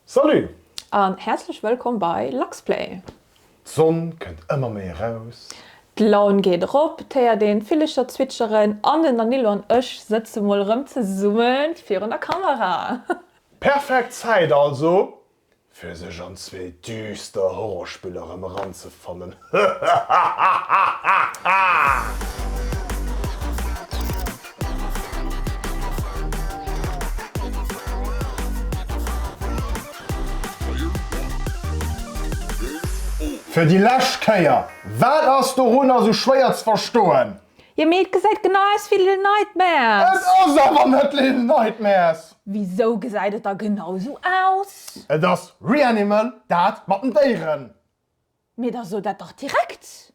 Salut! An häerzlech wëllkomm bei Luxplay! D'Sonn kënnt ëmmer méi eraus. D'Laun geet erop, et héiert een d'Villecher zwitscheren an den Danilo an ech sëtze mol erëm zesummen virun der Kamera. Perfekt Zäit also fir sech an zwee düster Horrorspiller erëm eranzefannen. Fir déi lescht Kéier, wat ass dorunner sou schwéier ze verstoen? Jo mee et gesäit genau aus wéi Little Nightmares. Et ass awer net Little Nightmares! Wisou gesäit et da genau sou aus? Et ass Reanimal, dat mat den Déieren. Mee da so dat dach direkt!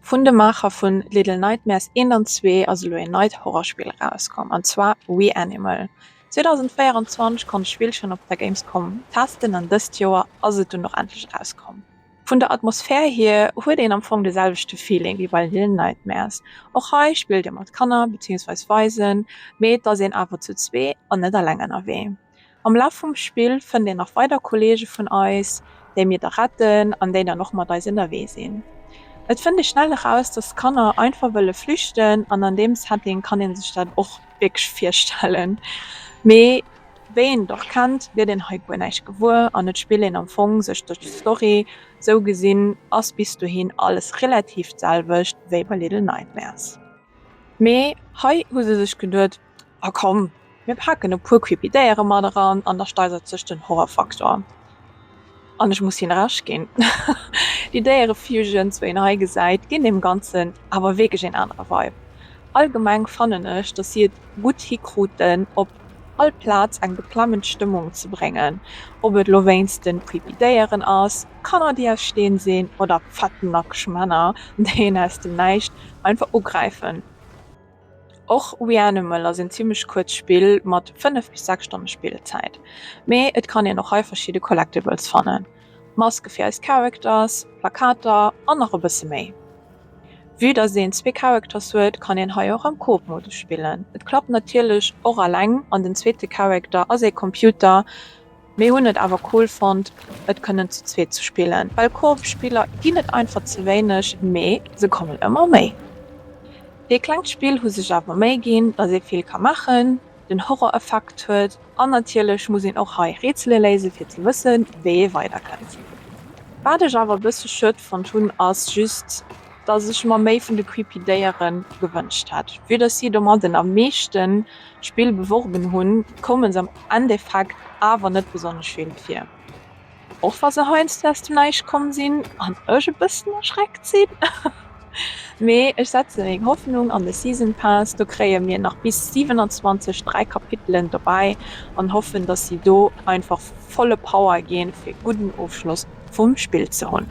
Vun de Maacher vun Little Nightmares 1 an 2 ass elo een neit Horrorspill erauskomm, an zwar Reanimal. 2024 konnt ech d'Spill schonn op der Gamescom testen an dëst Joer ass et dunn och endlech erauskomm. Vun der Atmosphär hier huet een am Fong de selwechte Feeling wéi bei Little Nightmares. Och hei spillt ee mat Kanner, beziehungsweise Waisen, mee et ass een awer zu zwee an net alleng ënnerwee. Am Laf vum Spill fënnt een nach weider Kolleege vun eis, déi mir da retten an déi dann och mat eis ënnerwee sinn. Et fënnt ee schnell eraus, dass d'Kanner einfach wëlle flüchten an an deem Setting kann ee sech dat och wierklech virstellen. Mee wéi een et och kennt, gëtt een hei guer näischt gewuer an et spillt een am Fong sech duerch d'Story. Sou gesinn ass bis dohin alles relativ d'selwecht wéi bei Little Nightmares. Mee hei hu se sech geduet, A komm, mir paken e puer creepy Déiere mat eran an da steisert sech den Horrorfaktor. An ech muss him Recht ginn, déi Déiereviewgen zwou een hei gesäit ginn deem Ganzen awer wierklech een anere Vibe. Allgemeng fannen ech, dass si et gutt hikruten op all Plaz eng beklemmend Stëmmung ze bréngen, ob et elo wéinst de creepy Déieren ass, Kanner déi aus Steen sinn oder fett nackeg Männer déi een aus dem Näischt einfach ugräifen. Och ReAnimal ass een zimmlech kuerzt Spill mat 5 bis 6 Stonne Spillzäit, mee et kann een och hei verschidde Collectibles fannen, Maske fir eis Characters, Plakater an nach e bësse méi. Vue dass een zwee Characters huet, kann een hei och am Coop-Modus spillen. Et klappt natierlech och alleng an den zweete Character ass ee Computer. Mir hunn et awer cool fonnt et kënnen zu zweet ze spillen, well Koop Spiller ginn et einfach ze wéineg, mee se kommen ëmmer méi. Déi klengt Spill hu sech awer Méi ginn, dass ee vill ka maachen, den Horror Effekt huet an natierlech muss een och hei Rätsele léise fir ze wësse wéi ee weider kënnt. Wat ech awer e bësse schued fonnt hunn ass just, dass ech mer méi vun de creepy Déiere gewënscht hätt, vue dass si domadden am meeschten. Spill beworben hunn, koume s'am Endeffekt awer net besonnesch vill vir, och wa se heiansdo aus dem Näischt komm sinn an ech e bëssen erschreckt sinn. Mee ech setze meng Hoffnung an de Season Pass, do kréie mir nach bis 27 dräi Kapitelen dobäi an hoffen, datt si do einfach volle Power ginn, fir e gudden Ofschloss vum Spill ze hunn.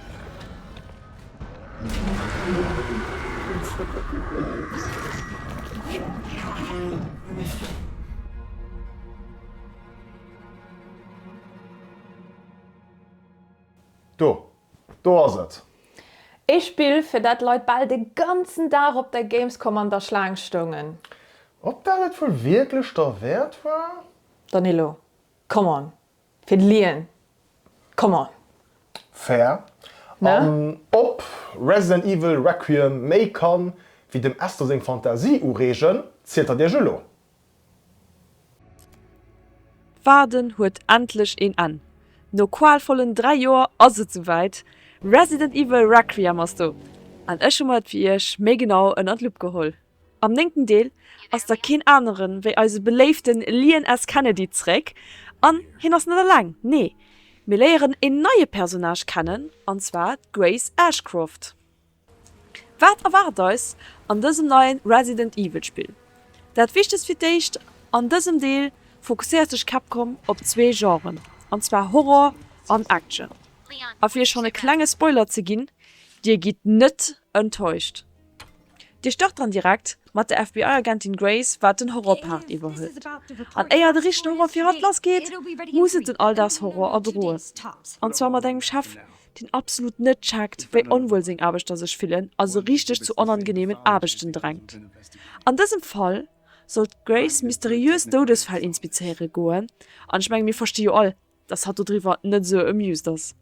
Do! Do ass et! Ee Spill, fir dat d'Leit bal de ganzen Dag op der Gamescom an der Schlaang stoungen. Ob dat et wuel wierklech derwäert war? Danilo, Come on! Fir de Lien, come on! Fair. An ob Resident Evil Requiem méi kann wéi dem Esther seng Fantasie ureegen, zielt der Iech elo. D'Waarden huet endlech een Enn! No qualvollen 3 Joer ass et souwäit, Resident Evil Requiem ass do! An ech hu mer et fir iech méi genau ënner d'Lupp geholl. Am néngten Deel ass da keen aneren wéi eise beléiften Leon S. Kennedy zréck, an hien ass net alleng, nee mir léieren een neie Personnage kennen an zwar d'Grace Ashcroft. Wat erwaart eis an dësem neien Resident Evil Spill? Dat wichtegst fir d'éischt, an dësem Deel fokusséiert sech Capcom op zwee Genren, an zwar Horror an Action. A fir iech schonn e klenge Spoiler ze ginn, dir gitt net enttäuscht. Dir start dann direkt mat der FBI-Agentin Grace, wat den Horrorpart iwwerhëlt. An éier de richtegen Horror fir hatt lassgeet, muss et den Alldagshorror erdroen. An zwar mat engem Chef, deen absolut net checkt, wéi onwuel seng Aarbechter sech fillen a se richteg zu onangeneemen Aarbechten drängt. An dësem Fall soll d'Grace mysteriös Doudesfäll inspizéiere goen, an ech menge mir versti jo all, dass hatt dodriwwer net esou amused ass,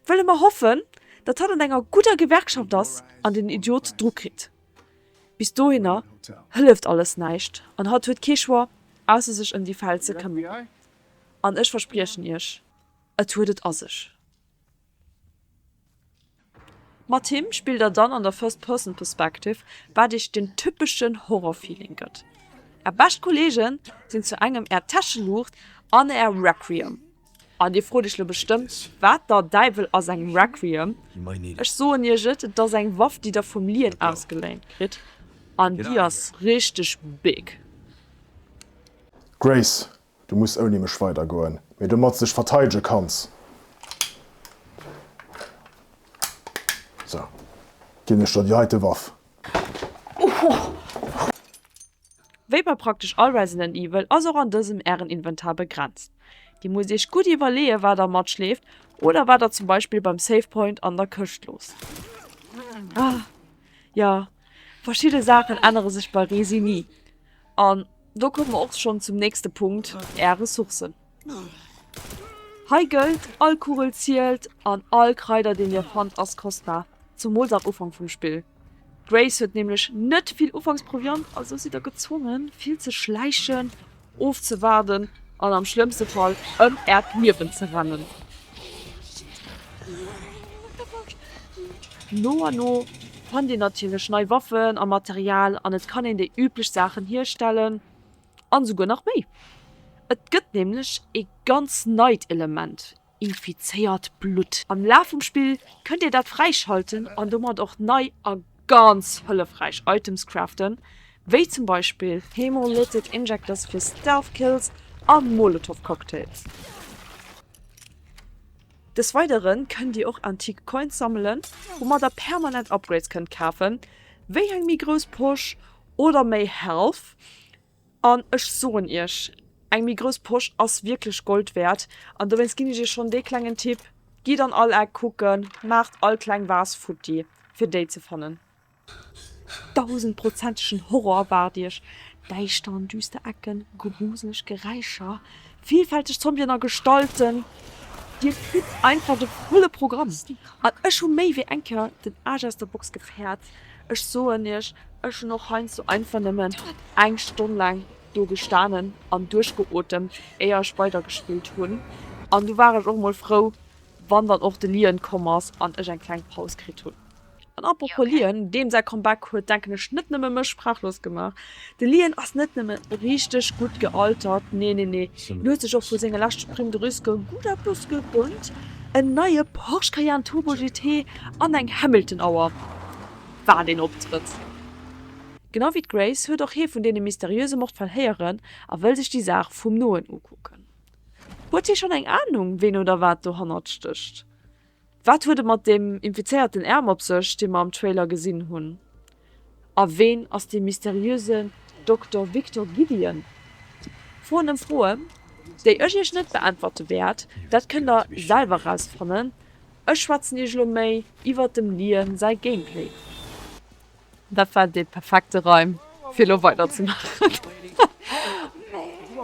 wëlle mer hoffen, datt hatt an enger gudder Gewerkschaft ass an den Idiot dru kritt. Bis dohinner hëlleft alles näischt an hatt huet kee Choix, ausser sech ëm déi Fäll ze këmmeren. An ech verspriechen Iech, et huet et a sech. Mat him spillt der dann an der First Person Perspective, wat iech den typeschen Horror-Feeling gëtt. Är bescht Kolleegen sinn zu engem är Täscheluucht an är Requiem. An dir frot iech lo bestëmmt, wat der Däiwel ass eng Requiem? Ech soen iech et, et ass eng Waff, déi der vum Lien ausgeléint kritt, an déi ass richteg big. Grace, Du muss ouni mech weider goen, mee domat s de dech verteidege kanns, sou, ginn ech der déi heite Waff. Wéi bei praktesch all Resident Evil ass och an dësem ären Inventar begrenzt. Dir musst iech gutt iwwerleeë wat der matschleeft oder wat der zum Beispill beim Save Point an der Këscht loosst. Ah, jo, verschidde Saachen ännere sech bei Resi ni an Do komme mer och schonn zum nächste Punkt, Är Ressourcen. Hei gëllt, all Kugel zielt an all Kraider, deen Dir fannt, ass kostbar, zumools am Ufank vum Spill. D'Grace huet nämlech net vill Ufanksproviant, also sidd Der gezwongen, vill ze schläichen, ofzewaarden an am schlëmmste Fall ëm Äert Liewen ze rennen. No a no fannt een natierlech nei Waffen a Material an et kann een déi üblech Saachen hierstellen an esouguer nach méi. Et gëtt nämlech ee ganz neit Element, infizéiert Blutt. Am Laf vum Spill kënnt dir dat fräischalten an domat och nei a ganz hëllefräich Items craften, wéi zum Beispill Hemolytic Injectors fir Stealth Kills a Molotov Cocktails. Des Weidere kënnt Dir och antique Coins sammelen, woumat der permanent Upgrades kënnt kafen, wéi eng méi grouss Posch oder méi Health. An ech soen Iech, eng méi grouss Posch ass wierklech Gold wäert. An dowéinst ginn ech Iech schonn dee klengen Tipp, Gitt an all Eck kucken, maacht all kleng Vase futti fir déi ze fannen. Dausendprozentegen Horror erwaart Iech, däischter an düster Ecken, gruseleg Geräischer, villfälteg Zombien a Gestalten, Dir kritt einfach de volle Programm! An ech hu méi wéi eng Kéier den Aasch aus der Box gefäert, ech soen Iech, ech hunn och heiansdo einfach nëmmen eng Stonn laang do gestanen an duerchgeotemt, éier ech weidergespillt hunn. An du war ech och mol frou, wann dann och de Liën komm ass an ech eng kleng Paus kritt hunn. An apropos Lien, deem säi Comeback huet denken ech net nëmme mech sprachlos gemaach. De Lien ass net nëmme richteg gutt gealtert, nee nee nee, en huet sech och vu senge leschte Primes de risque gutt eppes gegönnt, en neie Porsche Cayenne Turbo GT an eng Hamilton Auer, wat een Optrëtt! Genau wéi d'Grace huet och hie vun deene mysteriöse Mordfäll héieren a wëll sech déi Saach vum Noen ukucken. Huet hie schonn eng Ahnung, ween oder wat dohannert stécht? Wat huet et mat deem infizéierten Ärm op sech, dee mer am Trailer gesinn hunn? A ween ass dee mysteriösen Dokter Victor Gideon? Froen ëm Froen, déi ech iech net beäntwerte wäert, dat kënnt der selwer rausfannen. Ech schwätzen iech elo méi iwwert dem Liam säi Gameplay. Dat war dee perfekte Reim, fir elo weiderzemaachen.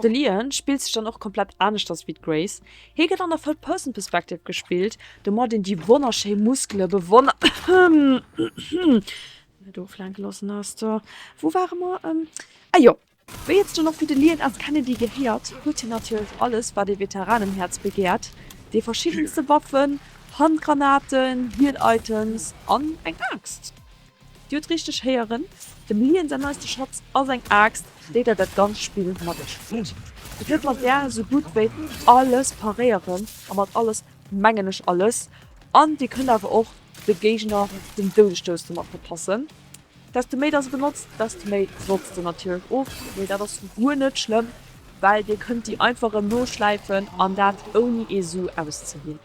De Lian spillt sech dann och komplett aneschters wéi d'Grace. Hie gëtt an der Third Person Perspective gespillt, domat een déi wonnerschéi Muskele bewonnert. Wéi et zu den Affidelieren aus Kennedy gehéiert, huet hien natierlech alles, wat ee Veteranenhäerz begäert, déi verschiddenste Waffen, Handgranaten, Hiel-Items an eng Aaxt. Dir hutt richteg héieren, dem Liam säin neiste Schatz ass eng Aaxt, déi der dat ganzt Spill mat iech spillt. Dir kënnt mat där esou gutt wéi alles paréieren, a mat alles mengen ech alles, an dir kënnt awer och de Géigner den Doudesstouss domat verpassen, Desto méi dass e benotzt, desto méi notzt en natierlech of, mee dat ass guer net schlëmm, well Dir kënnt déi einfach erëm noschläifen an dat ouni ee Su auszeginn.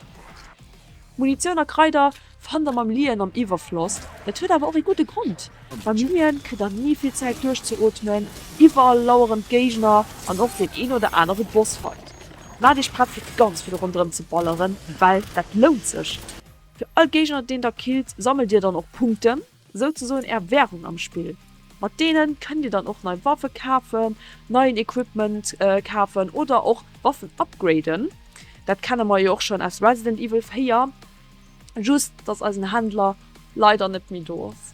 Munitioun a Kraider fannt Der mam Liën am Iwwerfloss. Dat huet awer och ee gudde Grond, Beim Liën kritt Der ni vill Zäit duerchzeootmen, iwwerall laueren d'Géigner an och deen een oder anere Bossfight. Maacht Iech prett fir ganz vill ronderëm ze balleren, well dat lount sech. Fir all Géigner deen Der killt, sammelt Dir dann och Punkten. Souzesoen är Währung am Spill. Mat deenen kënnt dir dann och nei Waffe kafen, neien Equipment kafen oder och Waffen upgraden. Dat kenne mer jo och schonn aus Resident Evil 4, just dass eisen Händler leider net méi do ass.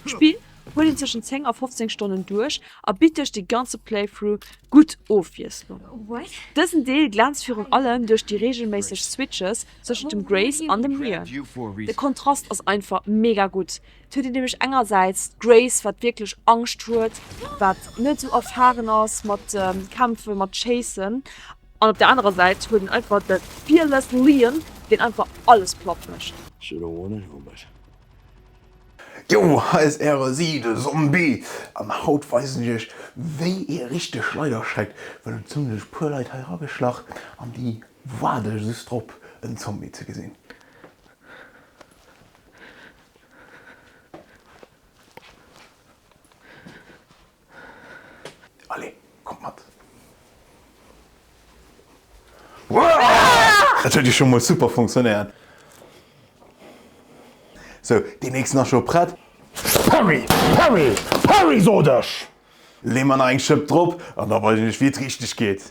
D'Spill huet een tëschent 10 a 15 Stonnen duerch a bitt duerch de ganze Playthrough gutt Ofwiesslung. Dësen Deel glänzt virun allem duerch déi reegelméisseg Switches Tëschent dem Grace an dem Liam. De Kontrast ass einfach mega gutt. Et huet een nämlech engersäits d'Grace, wat wierklech Angscht huet, wat net esou erfaren ass mat Kämpfen, mat Schéissen. An op der anerer Säit huet een einfach de fearless Liam, deen einfach alles platt mécht. Yo, hei ass äre Si, de Zombie, an haut weisen ech iech wéi ee richteg Schleiderschreck, well et hunn sech e puer Leit hei erageschlach an déi Waard ech just drop en Zombie ze gesinn. Allez kommt mat. Dat huet jo scho mol super funktionéiert. Sou, deen nächsten ass scho prett. Perry! Perry! Perry sot ech! Lee mer nach eng Schëpp drop an da weisen ech wéi et richteg geet.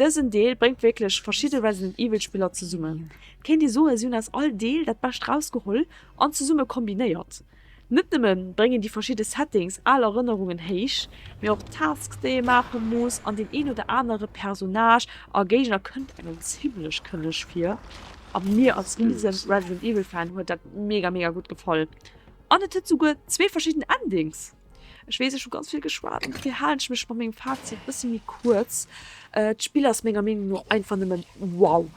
Dësen Deel bréngt wierklech verschidde Resident Evil Spiller zesummen. Kéint ee soen, si hunn aus all Deel dat Bescht rausgeholl an zesumme kombinéiert. Net nëmme bréngen déi verschidde Settings al Erënnerungen héich, mee och d'Tasks déi ee maache muss an deen een oder anere Personnage a Géigner kënnt engem zimmlech kënneg vir. A mir als riesen Resident Evil Fan huet dat mega mega gutt gefall an et huet souguer zwee verschidden Endings! Ech weess ech hu ganz vill geschwat an dofir halen ech mech mat mengem Fazit e bësse méi kuerz. Äh, D'Spill ass menger Meenung no einfach nëmmen wow!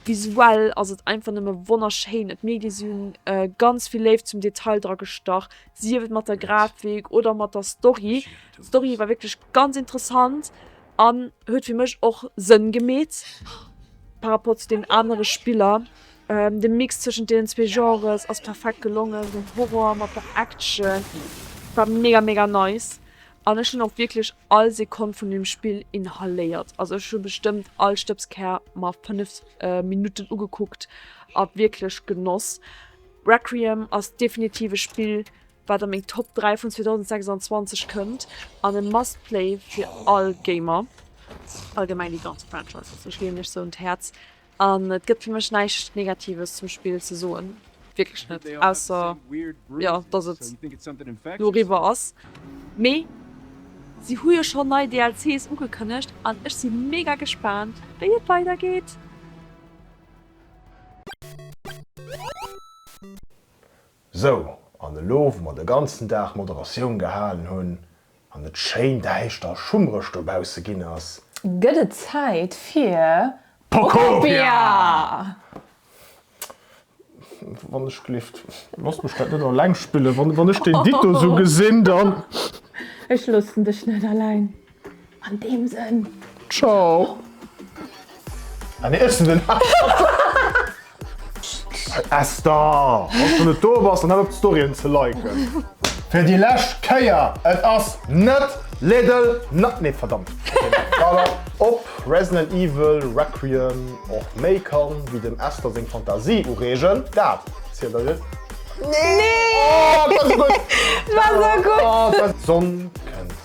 Visuell ass et einfach nëmme wonnerschéin. D'Medie si hunn äh, ganz vill Léift zum Detail dra gestach, sief et mat der Grafik oder mat der Story. D'Story war wierklech ganz interessant an huet fir mech och Sënn gemeet par rapport zu deenen anere Spiller. Den Mix zwëschent deenen zwee Genres ass perfekt gelongen, esou den Horror mat der Action war mega mega nice an ech hunn och wierklech all Sekonn vun dem Spill inhaléiert. Also ech hu bestëmmt all Stëbskär mer 5 Minutten ugekuckt a wierklech genoss. Requiem ass definitiv e Spill wat a meng Top 3 vun 2026 kënnt an e must play fir all Gamer. Allgemeng déi ganz Franchise, se leeën mech sou un d'Häerz. An et gëtt fir mech näischt Negatives zum Spill ze soen, wierklech net, ausser jo dass et elo eriwwer ass. Mee si hu jo schonn nei DLCs ugekënnegt an ech si mega gespaant wéi et weider geet. Sou, an elo wou mer de ganzen Dag Moderatioun gehalen hunn an et schéin däischter a schummreg dobausse ginn ass, gëtt et Zäit fir Pokopia! Wann ech gleeft, looss mech dat net alleng spillen. Wann ech deen Dito sou gesinn, dann. Ech loossen dech net alleng. An deem Sënn, Ciao! Ah nee, ech sinn den Esther! Wann s du net do bass, dann hal op d'Storyen ze liken. Fir déi lescht Kéier, et ass net Little Ni-, nee verdammt! Ob Resident Evil Requiem och méi kann wéi dem Esther seng Fantasie ureegen, dat zielt der dir. Nee! Ohh, dat war gutt! D'Sonn kënnt.